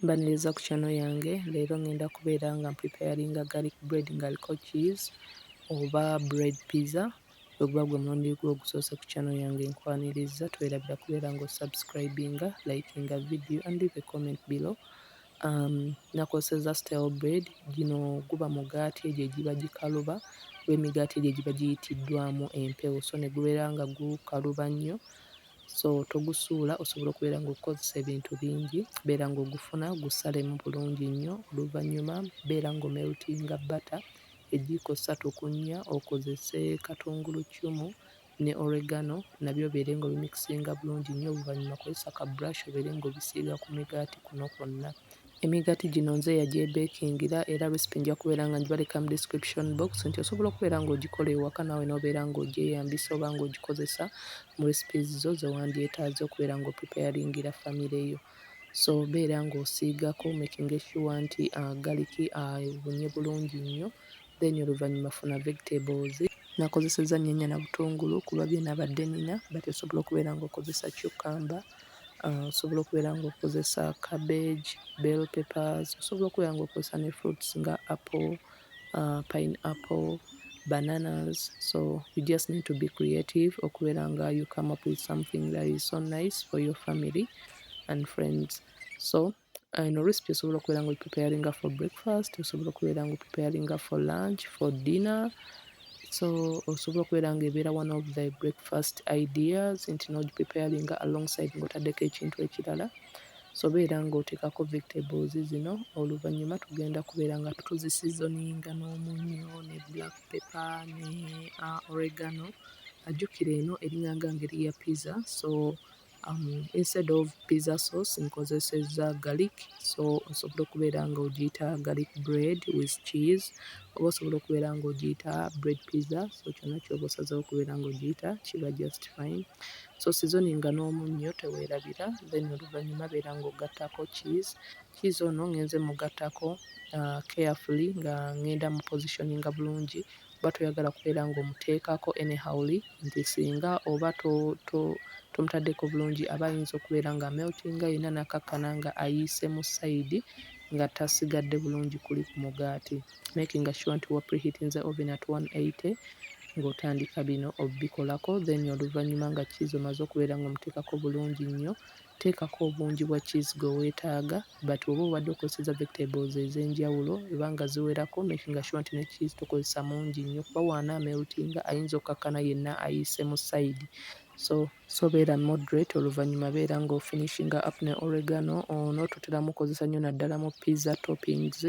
Mbaniriza ku channel yange leero ngenda kubeera nga mpreparinga garlic bread ngaliko cheese oba bread pizza weguba gwe mulundi gwo ogusoose ku channel yange nkwaniriza twerabira kubeera nga osubscribinga likinga video and leave a comment below um, nakoseza style bread gino guba mugaati egyo egiba gikaluba lwemigaati egyo egiba giyitiddwamu empewo so negubeera nga gukaluba nnyo so togusuula osobola okubeera ng'okukozesa ebintu bingi beera ng'ogufuna gusalemu bulungi nnyo oluvannyuma beera ng'omeltinga bbata ejiiko ssatu ku nnya okozese katungulu ccumu ne oregano nabyo obeere ng'obimikisinga bulungi nnyo oluvannyuma kozesa ka brush obeere ng'obisiiga ku migaati kuno kwonna Emigaati gino nze eyagyebeekingira era recipe nja kubeera nga ngibaleka mu description box nti osobola okubeera ng'ogikola ewaka naawe n'obeera ng'ogyeyambisa oba ng'ogikozesa mu recipes zo ze wandyetaaze okubeera ng'opreparingira famire yo. So beera ng'osiigako making sure nti uh, garlic abunye uh, bulungi nnyo then oluvannyuma funa vegetables nakozesezza nnyanya na butungulu kuba bye nabadde nina but osobola okubeera ng'okozesa cucumber Uh, osobola okubeera nga okozesa cabbage bell peppers osobola okubeera nga okozesa ne fruits nga apple uh, pine apple bananas so you just need to be creative okubeera nga you come up with something that is so nice for your family and friends so ino uh, recipe osobola okubeera nga ogipreparinga for breakfast osobola okubeera nga opreparinga for lunch for dinner so osobola okubeera nga ebeera one of the breakfast ideas nti nogipreparinga alongside ngaotaddeko ekintu ekirala so beera ngaoteekako vegetables zino oluvannyuma tugenda kubeera nga tuziseasoninga n'omunyo ne black pepper ne uh, oregano ajjukira eno eringanga ngeri ya pizza so um, instead of pizza sauce nkozesezza garlic so osobola okubeera nga ogiyita garlic bread with cheese oba osobola okubeera nga ogiyita bread pizza so kyonna kyoba osazeho okubeera nga ogiyita kiba just fine so sizoni nga n'omunnyo teweerabira then oluvannyuma beera nga ogattako cheese cheese ono ngenze mugattako uh, carefully nga ngenda mu positioninga bulungi oba toyagala kubeera nga omuteekako anyhowly nti singa oba to to tomutaddeko bulungi aba ayinza okubeera nga ameltinga yenna nakkakkana nga ayiisemu side nga tasigadde bulungi kuli ku mugaati. Makinga sure nti wa preheating the oven at 180 nga otandika bino obbikolako then oluvannyuma nga cheese omaze okubeera nga omuteekako bulungi nnyo Teekako obungi bwa cheese gwe wetaaga but bwoba obadde okozeseza vegetables ezenjawulo eba nga ziwerako making sure nti ne cheese tokozesa mungi nnyo kuba waana ameltinga ayinza okkakkana yenna ayiise mu side so so beera moderate oluvanyuma beera nga ofinishinga up ne oregano ono toteramu kozesa nnyo naddala mu pizza toppings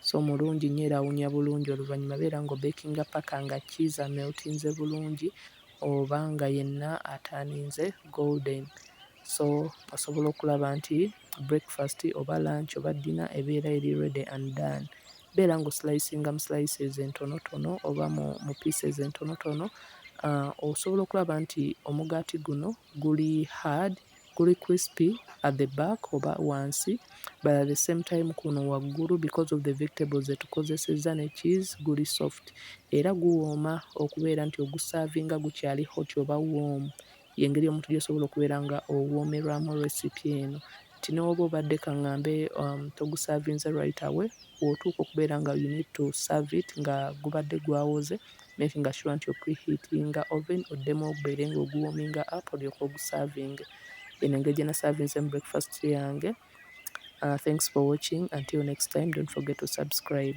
so mulungi nnyo era awunya bulungi oluvanyuma beera nga obekinga paka nga cheese ameltinze bulungi oba nga yenna ataaninze golden so osobola okulaba nti breakfast oba lunch oba dinner ebeera eri ready and done beera nga oslicinga mu slices entonotono oba mu, mu pieces entonotono uh, osobola okulaba nti omugaati guno guli hard guli crispy at the back oba wansi but at the same time kuno waggulu because of the vegetables zetukozesezza ne cheese guli soft era guwooma okubeera nti ogusaavinga gukyali hot oba warm yengeri omuntu gyosobola okubeera nga owoomerwamu recipe eno nti newoba obadde kaŋŋambe um, togusaavinze right away wootuuka okubeera nga you need to serve it nga gubadde gwawoze Makinga sure nti opreheatinga oven oddemu ogubeere nga oguwominga up olyoke ogusavinge. Eno engeri gye nasavinzemu breakfast yange. Uh, thanks for watching until next time don't forget to subscribe.